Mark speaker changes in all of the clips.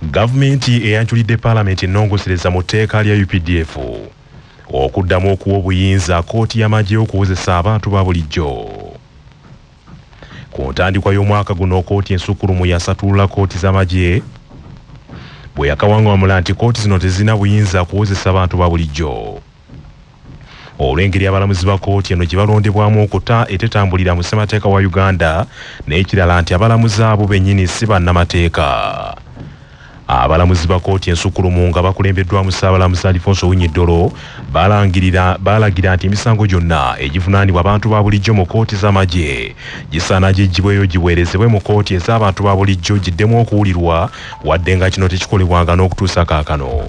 Speaker 1: gavumenti eyanjulidde paalamenti ennongosereza mu tteeka lya updf okuddamu okuwa obuyinza kkooti y'amagye okuwozesa abantu ba bulijjo ku ntandikwa y'omwaka guno kkooti ensukkulumu yasatulula kkooti z'amagye bwe yakawaŋŋamula nti kkooti zino tezirina buyinza kuwozesa bantu ba bulijjo olw'engeri abalamuzi ba kooti eno gye balondebwamu okuta etetambulira mu ssemateeka wa uganda n'ekirala nti abalamuzi abo bennyini si bannamateeka abalamuzi ba kooti ensukkulumu nga bakulembeddwamu ssaabalamuzi alifonso winyiddolo baalagira nti emisango gyonna egivunaanibwa abantu ba bulijjo mu kooti z'amagye gisaana giggyibweyo giweerezebwe mu kooti ez'abantu ba bulijjo giddemu okuwulirwa wadde nga kino tekikolebwanga n'okutuusa kaakano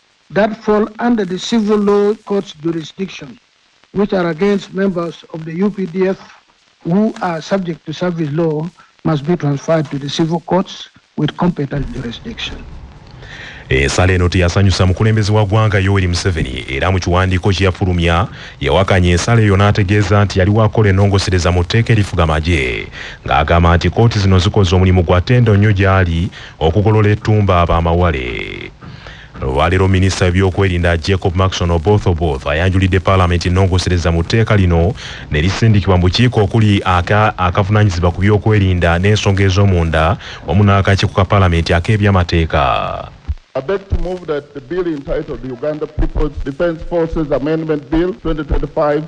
Speaker 2: that fall under the civil law courts jurisdiction which are against members of the updf who are subject to service law must be transferred to the civil courts with competent jurisdiction.
Speaker 1: Ensala eno teyasanyusa mukulembeze wa ggwanga Yoweri Museveni era mu kiwandiiko kye yafulumya yawakanya ensala eyo n'ategeeza nti yali wakola ennongosereza mu tteeka erifuga magye ng'agamba nti kkooti zino zikoze omulimu gwa ttendo nnyo gy'ali okugolola ettumba abamawale olwaleero minisita w'ebyokwerinda jacob maxon oboth oboth ayanjulidde paalamenti ennongosereza mu tteeka lino ne lisindikibwa mu bukiiko okuli akavunaanyizibwa aka ku byokwerinda n'ensonga ez'omunda wamu n'akakiiko ka paalamenti ak'ebyamateeka I beg
Speaker 3: to move that the bill entitled the Uganda People's Defence Forces Amendment Bill 2025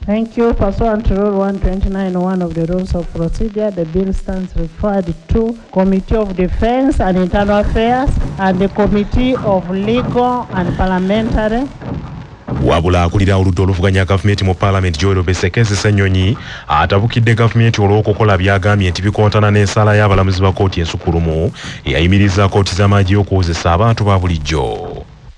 Speaker 3: Thank you.
Speaker 4: Pursuant to Rule 129.1 of the Rules of Procedure, the bill stands referred to Committee of Defense and Internal Affairs and the Committee of Legal and Parliamentary wabula
Speaker 1: akulira oludda oluvuganya gavumenti mu paalamenti joel besekezi senyonyi atabukidde gavumenti olw'okukola byagambye nti bikontana n'ensaala y'abalamuzi ba kooti ensukulumu eyayimiriza kooti z'amaagi y'okuwozesa abantu ba bulijjo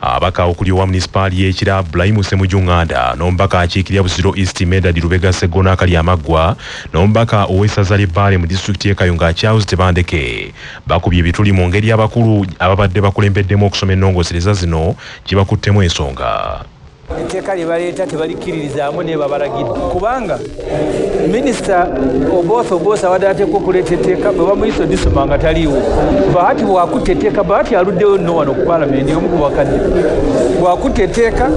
Speaker 1: Abaka okuli owa munisipaali y'ekira Bulayimu Semujunganda n'omubaka akiikirira Busiro East Medard Lubega Sseggona Akalyamaggwa n'omubaka ow'essaza ly'e Bbaale mu disitulikiti y'e Kayunga Charles Tebandeke bakubye ebituli mu ngeri abakulu ababadde bakulembeddemu okusoma ennongosereza zino gye bakuttemu ensonga. etteeka lye
Speaker 5: baleeta tebalikkiririzaamu naye babalagidde kubanga minisita oboosa oboosa abadde ateekwa okuleeta etteeka bwe bamuyisa odisoma nga taliiwo bahati bwakutta etteeka bahati aluddewo nno wano ku palamenti omu ku bakadde bwakutta etteeka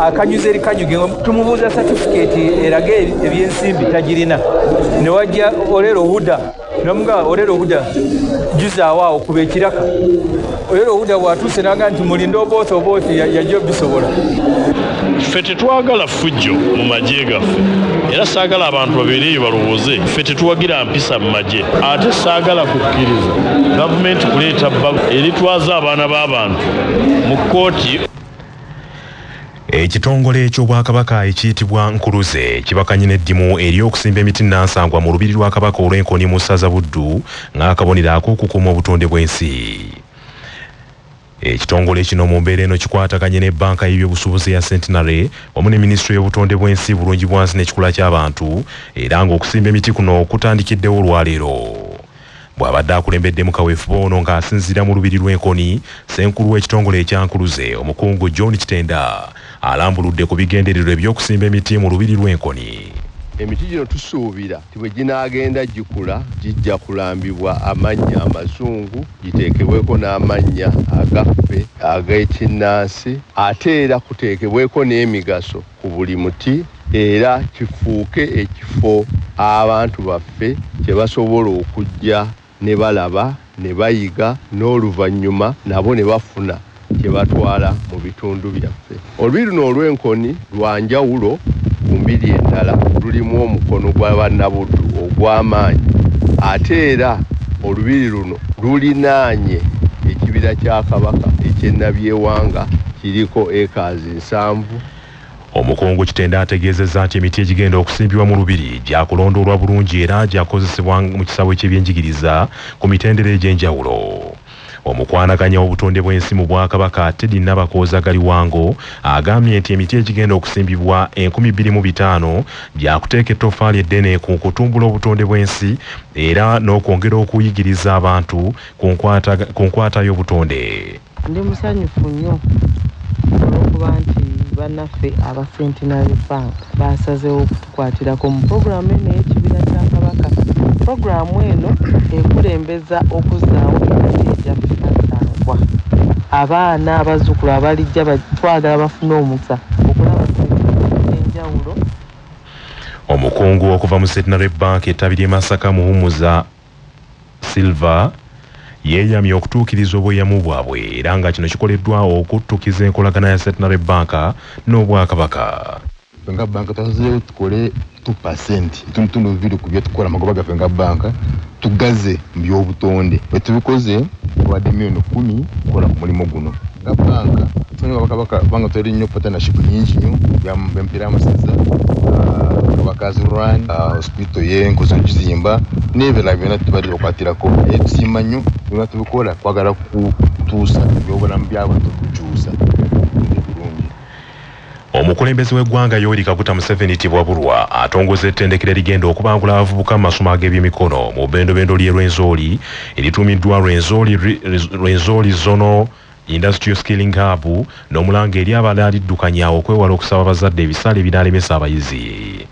Speaker 5: akanyuza erikanyuge tumubuuza satifikeeti eraga ebyensimbi tagirina ne wajja olero huda namuga olero obuda juzaawo awo kuba ekiraka olero obuda bwatuuse naga nti mulinde obooti obooti yajja obisobola ffe
Speaker 6: tetwagala ffujjo mu magye gaffe era saagala abantu babeereeyo balowooze ffe tetuwagira mpisa mu magye ate saagala kukkiriza gavumenti kuleeta bbago eritwaza abaana b'abantu mu kkooti
Speaker 1: Ekitongole eky'Obwakabaka ekiyitibwa Nkuluze kibakanye n'eddimu ery'okusimba emiti nnansangwa mu Lubiri lwa Kabaka olw'e Nkoni mu Ssaza Buddu ng'akabonero ak'okukuuma obutonde bw'ensi. Ekitongole kino mu mbeera eno kikwataganye ne Bbanka y'Ebyobusuubuzi eya Centenary wamu ne Minisitule y'Obutonde bw'ensi, Bulungibwansi n'Ekikula ky'Abantu era ng'okusimba emiti kuno kutandikiddewo olwaleero. Bw'abadde akulembeddemu kaweefube ono nga asinziira mu Lubiri lw'e Nkoni, Ssenkulu w'ekitongole ekya Nkuluze, Omukungu John Kitenda alambuludde ku bigendererwa eby'okusimba emiti mu Lubiri lw'e Nkoni.
Speaker 7: Emiti gino tusuubira nti bwe ginaagenda gikula gijja kulambibwa amannya amazungu giteekebweko n'amannya agaffe ag'ekinnansi ate era kuteekebweko n'emigaso ku buli muti era kifuuke ekifo abantu baffe kye basobola okujja ne balaba, ne bayiga n'oluvannyuma nabo ne bafuna kye batwala mu bitundu byaffe. Olubiri luno olw'enkoni lwa njawulo ku mbiri endala, lulimu omukono gwa Bannabuddu ogw'amaanyi ate era olubiri luno lulinaanye ekibira kya Kabaka eky'e Nabyewanga kiriko acres. musanvu. Omukungu
Speaker 1: Kitenda ategeezezza nti emiti egigenda okusimbibwa mu Lubiri gyakulondoolwa bulungi era gyakukozesebwa mu kisaawe ky'ebyenjigiriza ku mitendera egy'enjawulo. Omukwanaganya w'obutonde bw'ensi mu Bwakabaka Teddy Nabakooza Galiwango agambye nti emiti egigenda okusimbibwa enkumi bbiri mu bitaano gyakuteeka ettoffaali eddene ku kutumbula obutonde bw'ensi era n'okwongera okuyigiriza abantu ku nkwata y'obutonde. Ndi
Speaker 8: musanyufu nnyo olw'okuba nti bannaffe aba Centenary Bank baasazeewo okutukwatirako mu pulogulaamu eno ey'Ekibira kya Kabaka. Pulogulaamu eno ekulembeza okuzzaawo emiti egyaffe Nansangwa. Abaana, abazzukulu abalijja twagala bafune omukisa okulaba ku miti egy'enjawulo.
Speaker 1: Omukungu okuva mu Centenary Bank ettabi ly'e Masaka, Muhumuza. Silva yeeyamye okutuukiriza obweyamo bwabwe era nga kino kikoleddwa okuttukiza enkolagana ya Centenary Bank n'Obwakabaka. Ffe nga
Speaker 9: bbanka twasazeewo tukole two percent, ekitundutundu bibiri ku bye tukola, amagoba gaffe nga bbanka tugaze mu by'obutonde. Bwe tubikoze, tubawadde million kkumi okukola ku mulimu guno. nga banka tuli bakabaka kubanga tuli nnyo partnership nyingi nnyo bempeera amasaza kabakazi ah, run ah, hospital yenkozi okizimba n'ebirala byona tubadde bakwatirako naye tusiima nnyo byona tubikola kwagala kutuusa ebyobulamu byabantu kukyusa
Speaker 1: Omukulembeze w'eggwanga Yoweri Kaguta Museveni Tibwaburwa atongoza ettendekero erigenda okubangula abavubuka mu masomo ag'ebyemikono mu bendobendo ly'e Rwenzori erituumiddwa Rwenzori, Rwenzori Zono Industrial Skilling Hub n'omulanga eri abalaliddukanya okwewala okusaba abazadde ebisale ebinaalemesa abayizi.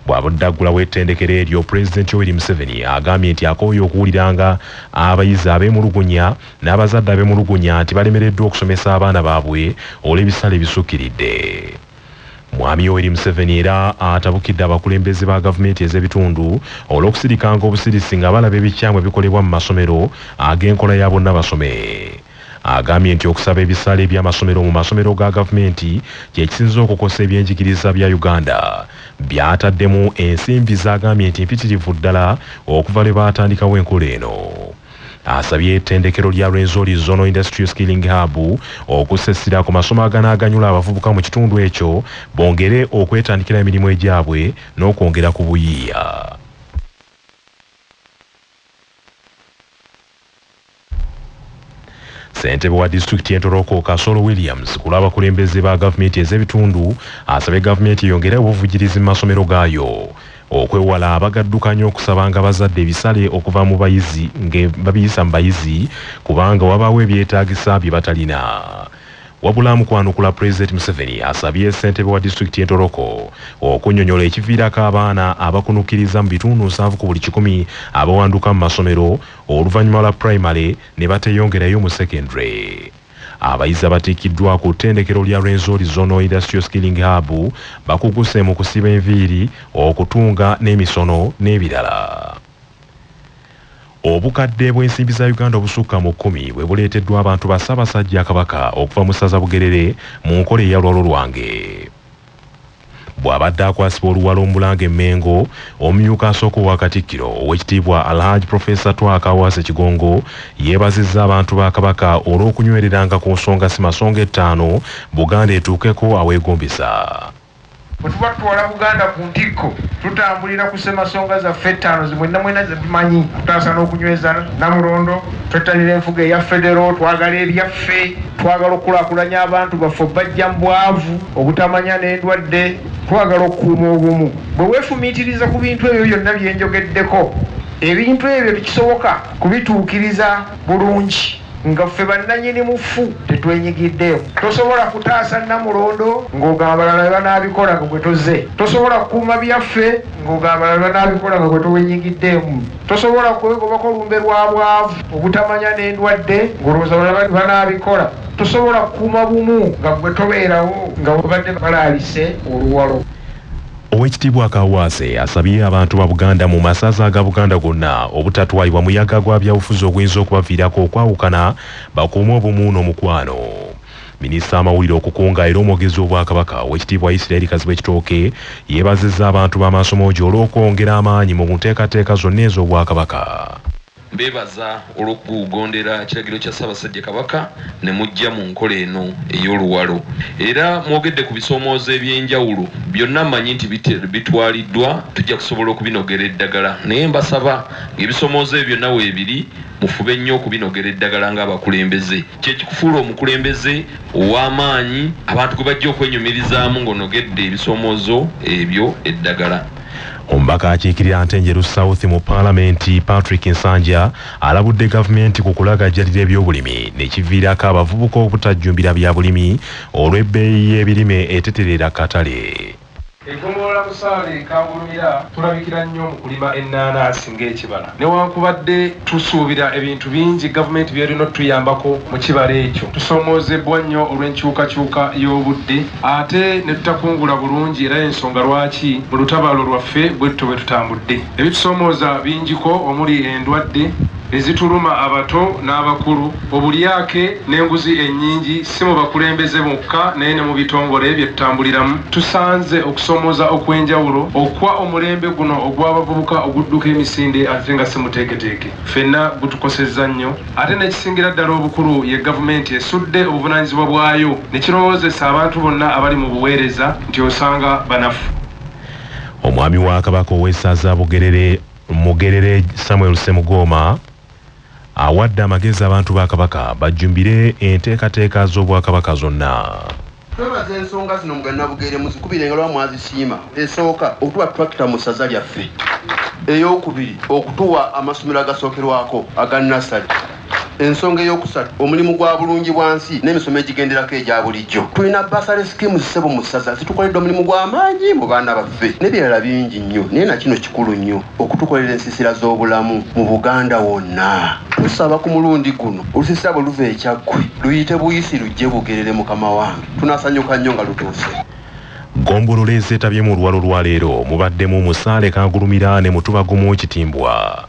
Speaker 1: Bw'abadde aggulawo ettendekero eryo, Pulezidenti Yoweri Museveni agambye nti akooye okuwulira nga abayizi abeemulugunya n'abazadde abemulugunya nti balemereddwa okusomesa abaana baabwe olw'ebisale ebisukkiridde. Mwami Yoweri Museveni era atabukidde abakulembeze ba gavumenti ez'ebitundu olw'okusirikanga obusirisi nga balaba ebikyamu ebikolebwa mu masomero ag'enkola ya bonna basome. Agambye nti okusaba ebisale eby'amasomero mu masomero ga gavumenti kye kisinze okukosa ebyenjigiriza bya Uganda by'ataddemu ensimbi z'agambye nti mpitirivu ddala okuva lwe baatandikawo enkola eno. asabye ettendekero lya Rwenzori Zono Industrial Skilling Hub okussa essira ku masomo aganaaganyula abavubuka mu kitundu ekyo bongere okwetandikira emirimu egyabwe n'okwongera ku buyiiya. Ssentebe wa disitulikiti y'entoroko Kasolo Williams ku lw'abakulembeze ba gavumenti ez'ebitundu asabye gavumenti eyongere obuvujirizi mu masomero gaayo. Okwewala abagaddukanya okusabanga bazadde ebisale okuva mu bayizi nge babiyisa mu bayizi kubanga wabaawo ebyetaagisa bye batalina. Wabula mu kwanukula Pulezidenti Museveni asabye ssentebe wa disitulikiti y'e Toroko okunyonyola ekiviirako abaana abakunukiriza mu bitundu nsanvu ku buli kikumi abawanduka mu masomero oluvannyuma lwa Primary ne bateyongerayo mu Secondary. Abayizi abatikiddwa ku ttendekero lya Rwenzori Zonal Industrial Skilling Hub bakuguse mu kusiba enviiri, okutunga n'emisono n'ebirala. Obukadde bw'ensimbi za Uganda obusukka mu kkumi bwe buleeteddwa abantu ba Ssaabasajja Kabaka okuva mu Ssaza Bugerere mu nkola eya lwalo lwange. bw'abadde akwasibwa oluwalo omulanga emmengo omumyuka asooka owa katikkiro owekitiibwa alhaj profesa twaka awaase kigongo yeebazizza abantu ba kabaka olw'okunywereranga ku nsonga si masonga ettaano buganda etuukeko aweegombesa bwe
Speaker 10: tuba tutwala buganda ku ntikko tutambulira ku ssemasonga zaffe ettaano zimwenna mwenna ze tumanyi okutaasa n'okunyweza namulondo Twettanira enfuga eya federo, twagala ebyaffe, twagala okukulaakulanya abantu baffe okubaggya mu bwavu, obutamanya n'endwadde, twagala okukuuma obumu. Bwe weefumiitiriza ku bintu ebyo byonna bye njogeddeko, ebintu ebyo tekisoboka kubituukiriza bulungi nga ffe bannannyini mufu tetwenyigiddeemu. Tosobola kutaasa Nnamulondo ng'ogamba abalala be banaabikola nga gwe tozze. Tosobola kukuuma byaffe ng'ogamba abalala be banaabikola nga gwe tewenyigiddeemu. Tosobola kwegobako lumbe lwa bwavu, obutamanya n'endwadde ng'olowooza abalala banaabikola. Tosobola kukuuma bumu nga ggwe tobeerawo nga bwe babadde balaalise oluwalo. Owekitiibwa
Speaker 1: Kaawaase asabye abantu ba Buganda mu masaza aga Buganda gonna obutatwalibwa muyaga gwa byabufuzi oguyinza okubaviirako okwawukana bakuume obumu n'omukwano. Minisita w'amawulire, okukunga era omwogezi w'Obwakabaka, Oweekitiibwa Isiraeri Kazibwe Kitooke yeebazizza abantu ba Maasomoogi olw'okwongera amaanyi mu nteekateeka zonna ez'Obwakabaka. Mbeebaza
Speaker 11: olw'okugondera kiragiro kya Ssaabasajja Kabaka ne mujja mu nkola eno ey'Oluwalo era mwogedde ku bisoomoozo eby'enjawulo byonna mmanyi nti bitwaliddwa tujja kusobola okubinogera eddagala naye mbasaba ng'ebisomoozo ebyo byonna weebiri mufube nnyo okubinogera eddagala ng'abakulembeze Kye kikufuula omukulembeze ow'amaanyi abantu gwe bajja okwenyumirizaamu ng'onogedde ebisomoozo ebyo eddagala. Omubaka
Speaker 1: akiikirira Ntenjeru South mu Palamenti, Patrick Nsanja alabudde Gavumenti ku kulagajjalira ebyobulimi ne kiviirako abavubuka obutajjumbira bya bulimi olw'ebbeeyi y'ebirime etetereera katale. Eggombolola
Speaker 12: Busaale e Kamulumira tulabikira nnyo mu kulima ennaanansi ng'ekibala. Newankubadde tusuubira ebintu bingi gavumenti by'erina otutuyambako mu kibala ekyo, tusomoozebbwa nnyo olw'enkyukakyuka y'obudde ate ne tutakungula bulungi era y'ensonga lwaki mu lutabaalo lwaffe bwe tutyo bwe tutambudde. Ebitusomooza bingiko omuli endwadde, ezituluma abato n'abakulu, obulyake n'enguzi ennyingi si mu bakulembeze bokka naye ne mu bitongole bye tutambuliramu tusanze okusoomooza okw'enjawulo okwa omulembe guno ogw'abavubuka ogudduka emisinde ate nga si muteeketeeke ffenna gutukosezza nnyo ate n'ekisingira ddala obukulu ye Gavumenti esudde obuvunaanyizibwa bwayo ne kirowoozesa abantu bonna abali mu buweereza nti osanga banafu.
Speaker 1: Omwami wa Kabaka ow'essaza Bugerere, Mugerere Samuel Ssemugooma awadde amagezi abantu ba Kabaka bajjumbire enteekateeka z'Obwakabaka zonna. Twebaza
Speaker 13: ensonga zino mu Gannabugeere muzikubire engalo nga mwazisiima. Esooka, okutuwa tulakita mu ssaza lyaffe. Eyookubiri, okutuwa amasomero agasookerwako aga nnasale. Ensonga ey'okusatu omulimu gwa bulungi bwa nsi n'emisomo egigenderako egya bulijjo. Tulina basale sikimu zisebo mu ssaza zitukoledde omulimu gw'amaanyi mu baana baffe n'ebirala bingi nnyo naye na kino kikulu nnyo okutukolera ensiisira z'obulamu mu Buganda wonna. Tusaba ku mulundi guno olusiisira bwe luva e Kyaggwe luyite buyisi lujje Bugerere mukama wange tunasanyuka nnyo nga lutuuse. Ggombolola
Speaker 1: ezeetabye mu luwalo lwa leero mubaddemu Musaale Kagulumira ne Mutuba Gumu Kitimbwa.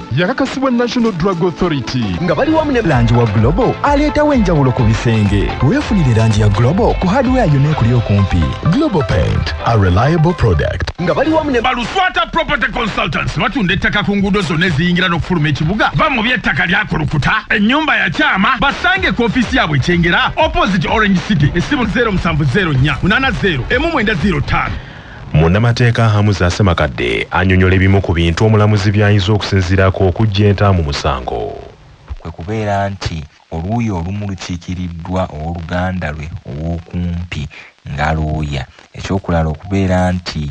Speaker 14: yakakasibwa National Drug Authority nga bali wamu ne
Speaker 15: langi wa Global aleetawo enjawulo ku bisenge. Weefunire langi ya Global ku hardware yonna ekuli okumpi. Global Paint,
Speaker 14: a reliable product. Nga bali wamu ne
Speaker 15: Baluswata Property
Speaker 16: Consultants batunda ettaka ku nguudo zonna eziyingira n'okufuluma ekibuga. Ba mu by'ettaka lyakulukuta, ennyumba ya kyama, basange ku ofiisi yaabwe ekyengera opposite Orange City, essimu 0704 80 emu mwenda ziro ttaano. Munnamateeka
Speaker 1: Hamuza Ssemakadde anyonyola ebimu ku bintu omulamuzi byayinza okusinziirako okuggya enta mu musango. kwe kubeera
Speaker 17: nti oluuyi olumu lukiikiriddwa ow'oluganda lwe ow'okumpi nga looya, eky'okulala okubeera nti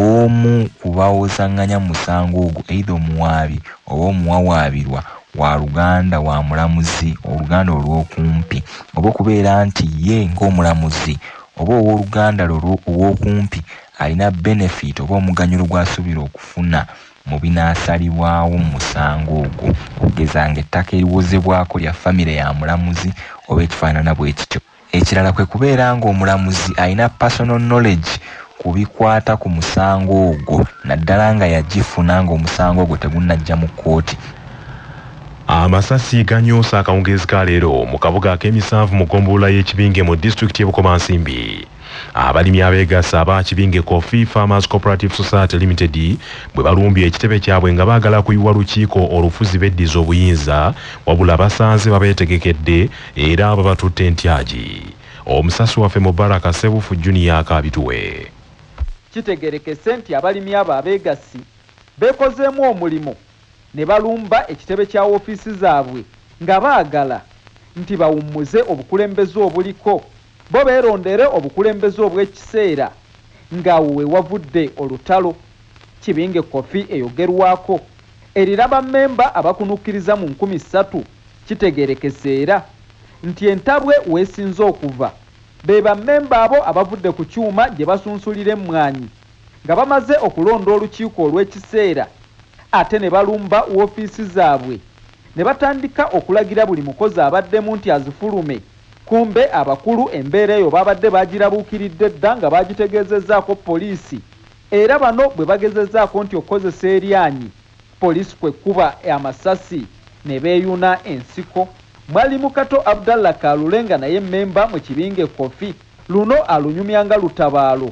Speaker 17: omu ku bawozaŋŋanya mu musango ogwo, either omuwaabi oba omuwawaabirwa, wa luganda wa mulamuzi, oluganda olw'okumpi, oba okubeera nti ye ng'omulamuzi, oba ow'oluganda lwo ow'okumpi alina benefit oba omuganyulo gw'asuubira okufuna mu binaasalibwawo mu musango ogwo, okugeza nga ettaka eriwozebwako lya famire ya mulamuzi oba ekifaanana bwe kityo. Ekirala kwe kubeera nga omulamuzi alina personal knowledge ku bikwata ku musango ogwo naddala nga yagifuna ng'omusango ogwo tegunnajja mu kkooti. Amasasi
Speaker 1: ganyoose akawungeezi ka leero mu kabuga ak'emisanvu mu ggombolola y'e Kibinge mu disitulikiti y'e Bukomansimbi. Abalimi abeegasse aba Kibinge Coffee Farmers Cooperative Society Limited bwe balumbye ekitebe kyabwe nga baagala kuyiwa lukiiko olufuzi beddize obuyinza wabula basanze babeetegekedde era babatutte ntyagi. Omusasi waffe Mubaraka Ssebuufu Junior akaabituwe.
Speaker 18: Kitegeerekese nti abalimi abo abeegassi beekozeemu omulimu ne balumba ekitebe kya wofiisi zaabwe nga baagala nti bawummuze obukulembeze obuliko, bo beerondere obukulembeze obw'ekiseera ng'awo we wavudde olutalo. Kibinge Coffee eyogerwako erina bammemba abakunukkiriza mu nkumi ssatu kitegeerekese era nti entabwe w'esinze okuva be bammemba abo abavudde ku kyuma gye basunsulira emmwanyi Nga bamaze okulonda olukiiko olw'ekiseera ate ne balumba woofiisi zaabwe ne batandika okulagira buli mukozi abaddemu nti azifulume kumbe abakulu embeera eyo baabadde baagirabuukiridde dda nga baagitegeezezzaako poliisi era bano bwe bagezezzaako nti okukozesa eryanyi poliisi kwe kkuba amasasi ne beeyuna ensiko. Mwalimu Kato Abdallah Kalule nga naye mmemba mu kibinge Coffee, Luno alunyumya nga lutabaalo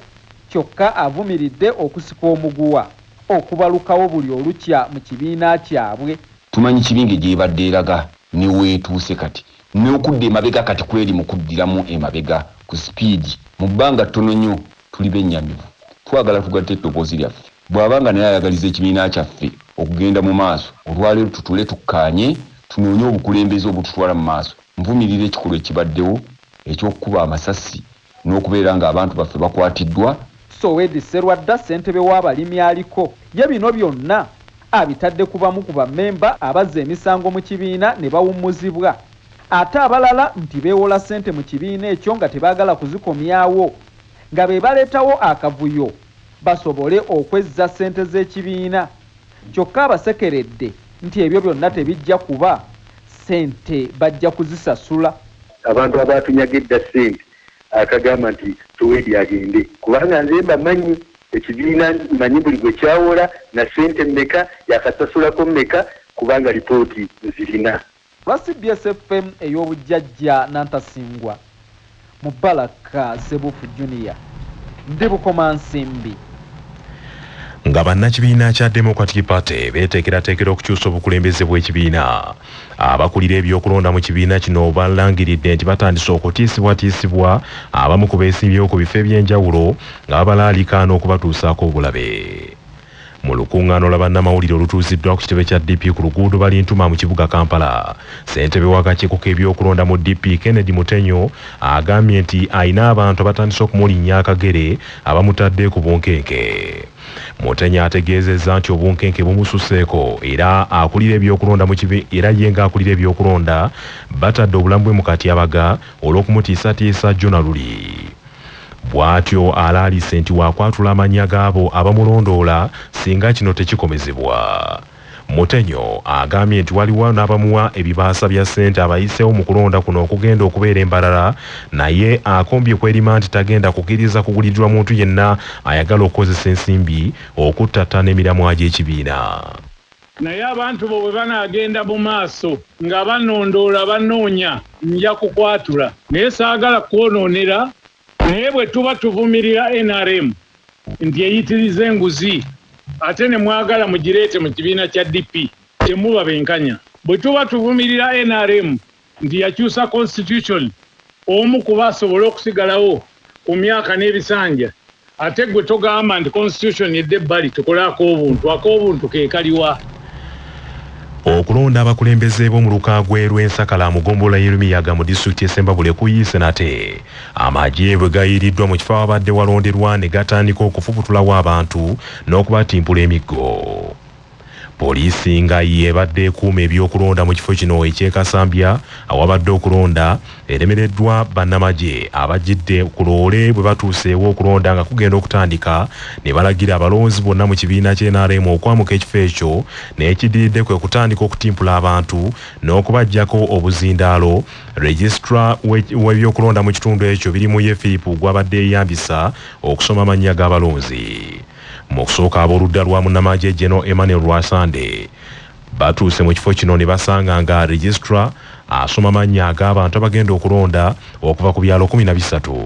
Speaker 18: kyokka avumiridde okusika omuguwa okubalukawo buli olukya mu kibiina kyabwe. Tumanyi Kibinge
Speaker 19: gy'ebadde eraga ne w'etuuse kati. N'okudda emabega kati kweri mu kuddiramu emabega ku sipiidi. Mu bbanga ttono nnyo tuli bennyamivu. Twagala tugatte eddoboozi lyaffe. Bw'aba nga naye ayagaliza ekibiina kyaffe okugenda mu maaso, olwaleero tutuule tukkaanye tunoonye obukulembeze obututwala mu maaso. Nvumirira ekikolwa ekibaddewo eky'okukuba amasasi n'okubeera ng'abantu baffe bakwatiddwa. Sowedi
Speaker 18: Sserwadda ssentebe w'abalimi aliko ye bino byonna abitadde ku bamu ku bammemba abazza emisango mu kibiina ne bawummuzibwa ate abalala nti beewola ssente mu kibiina ekyo nga tebaagala kuzikomyawo nga be baleetawo akavuyo. basobole okwezza ssente z'ekibiina kyokka abasekeredde nti ebyo byonna tebijja kuba, ssente bajja kuzisasula. Abantu
Speaker 20: abaatunyaga edda ssente akagamba nti Tuweedi agende kubanga nze mbamanyi, ekibiina mmanyi buli gwe kyawola na ssente mmeka, yaakasasulako mmeka kubanga lipooti nzirina. Olwa cbs
Speaker 18: FM ey'obujjajja Nantasingwa Mubarak Ssebuufu Junior ndi Bukomansimbi.
Speaker 1: Nga bannakibiina kya Democratic Party beeteekerateekera okukyusa obukulembeze bw'ekibiina, abakulira ebyokulonda mu kibiina kino balangiridde nti batandise okutiisibwatiisibwa abamu ku beesimbyewo ku bifo eby'enjawulo nga babalaalikaana okubatuusaako obulabe. Mu lukungaano lwa bannamawulire olutuuziddwa ku kitebe kya DP ku luguudo Balintuma mu kibuga Kampala, ssentebe w'akakiiko k'ebyokulonda mu DP Kennedy Mutenyo agambye nti alina abantu abatandise okumulinnya akagere abamutadde ku bunkenke. Mutenyo ategeezezza nti obunkenke bumususeeko era akulira ebyokulonda mu kibi era ye ng'akulira ebyokulonda batadde obulamu bwe mu katyabaga olw'okumutiisatiisa jjo na luli. Bwatyo alaalise nti wakwatula amannya gaabo abamulondoola singa kino tekikomezebwa. Mutenyo agambye nti waliwo nabamuwa ebibaasa bya ssente abayiseewo mu kulonda kuno okugenda okubeera e Mbarara naye akombye kwelima nti tagenda kukiriza kugulirirwa muntu yenna ayagala okukozesa ensimbi okuttattana emiramwa gy'ekibiina. Naye
Speaker 21: abantu bo bwe banaagenda mu maaso nga banondoola, bannoonya, nja kukwatula. Naye saagala kukwonoonera. Naye bwe tuba tuvumirira nrm nti eyitiriza enguzi ate ne mwagala mugireete mu kibiina kya DP, temuba benkanya. Bwe tuba tuvumirira nrm. nti yakyusa Constitution omu kuba asobole okusigalawo ku myaka n'ebisanja ate gwe togamba nti Constitution edde ebbali tukole ak'obuntu, ak'obuntu ke kali wa?
Speaker 1: Okulonda abakulembeze b'omuluka gw'e Lwensakala mu ggombolola y'e Lumiyaga mu disitulikiti y'e Ssembabule kuyiise nate. Amagye bwe gayiiriddwa mu kifo awabadde walonderwa ne gatandika okufubutulawo abantu n'okubatimpula emiggo. Poliisi nga y'ebadde ekuuma ebyokulonda mu kifo kino eky'e Kasambya awabadde okulonda eremereddwa bannamagye abajjidde ku loole bwe batuuse ew'okulonda nga kugenda okutandika ne balagira abalonzi bonna mu kibiina kya nrm okwamuka ekifo ekyo n'ekiddiridde kwe kutandika okutimpula abantu n'okubaggyako obuzindaalo Registra w'ebyokulonda mu kitundu ekyo Birimuye Philip gwabadde eyambisa okusoma amannya g'abalonzi. Mu kusooka ab'oludda lwa munnamaagye General Emmanuel Rwasande batuuse mu kifo kino ne basanga nga registra asoma mannya ag'abantu abagenda okulonda okuva ku byalo kumi na bisatu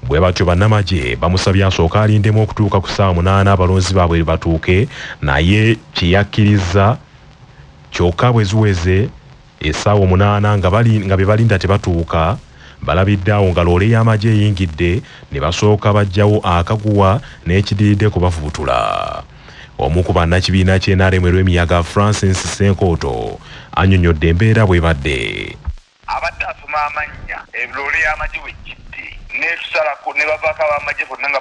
Speaker 1: bwe batyo bannamagye bamusabye asooke alindemu okutuuka ku ssaawa munaana abalonzi baabwe bwe batuuke naye kye yakkirizza kyokka bwe ziweze Essaawa omunaana nga bali nga be balinda tebatuuka, balabidde awo nga loole y'amagye eyingidde ne basooka baggyawo akaguwa n'ekidiridde kubafubutula. Omu ku bannakibiina kye nrm e Lwemiyaga, Francis Ssenkooto annyonnyodde embeera bw'ebadde. Abadde
Speaker 2: asoma amannya loole y'amagye we jjidde n'etusalako ne bavaako ab'amagye bonna nga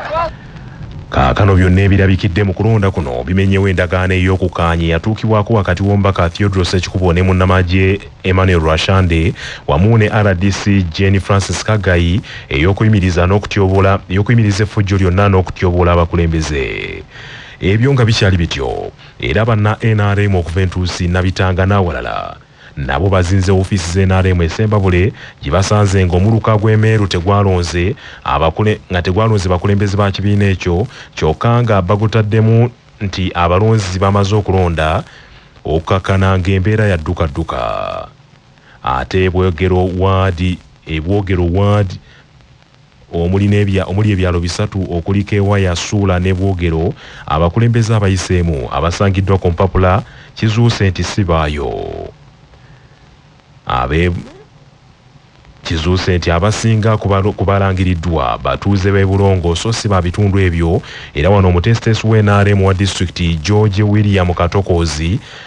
Speaker 1: kaakano byonna ebirabikidde mu kulonda kuno bimenyewo endagaano ey'okukaanya eyatuukibwako wakati w'omubaka theodros ekikubo ne munnamagye emmanuel rwashande wamu ne rdc jane francis kagayi ey'okuyimiriza n'okutyobola ey'okuyimiriza effujjo lyonna n'okutyobola abakulembeze ebyo nga bikyali bityo era banna nrm okuva entuusi nabitanga n'awalala nabo bazinze ofiisi za nrm e Ssembabule gye basanze ng'omuluka gw'e Meeru tegwalonze abakule nga tegwalonze bakulembeze ba kibiina ekyo kyokka nga bagutaddemu nti abalonzi bamaze okulonda okukakkana ng'embeera yaddukadduka ate e Bwogero waadi e Bwogero waadi omuli ebyalo bisatu okuli Kewaya, Suula ne Bwogero abakulembeze abayiseemu abasangiddwa ku mpapula kizuuse nti si baayo. Kizuuse nti abasinga ku balangiriddwa batuuze b'e Bulongo so si ba bitundu ebyo era wano omuteesiteesi w'NRM wa disitulikiti George William Katokoozi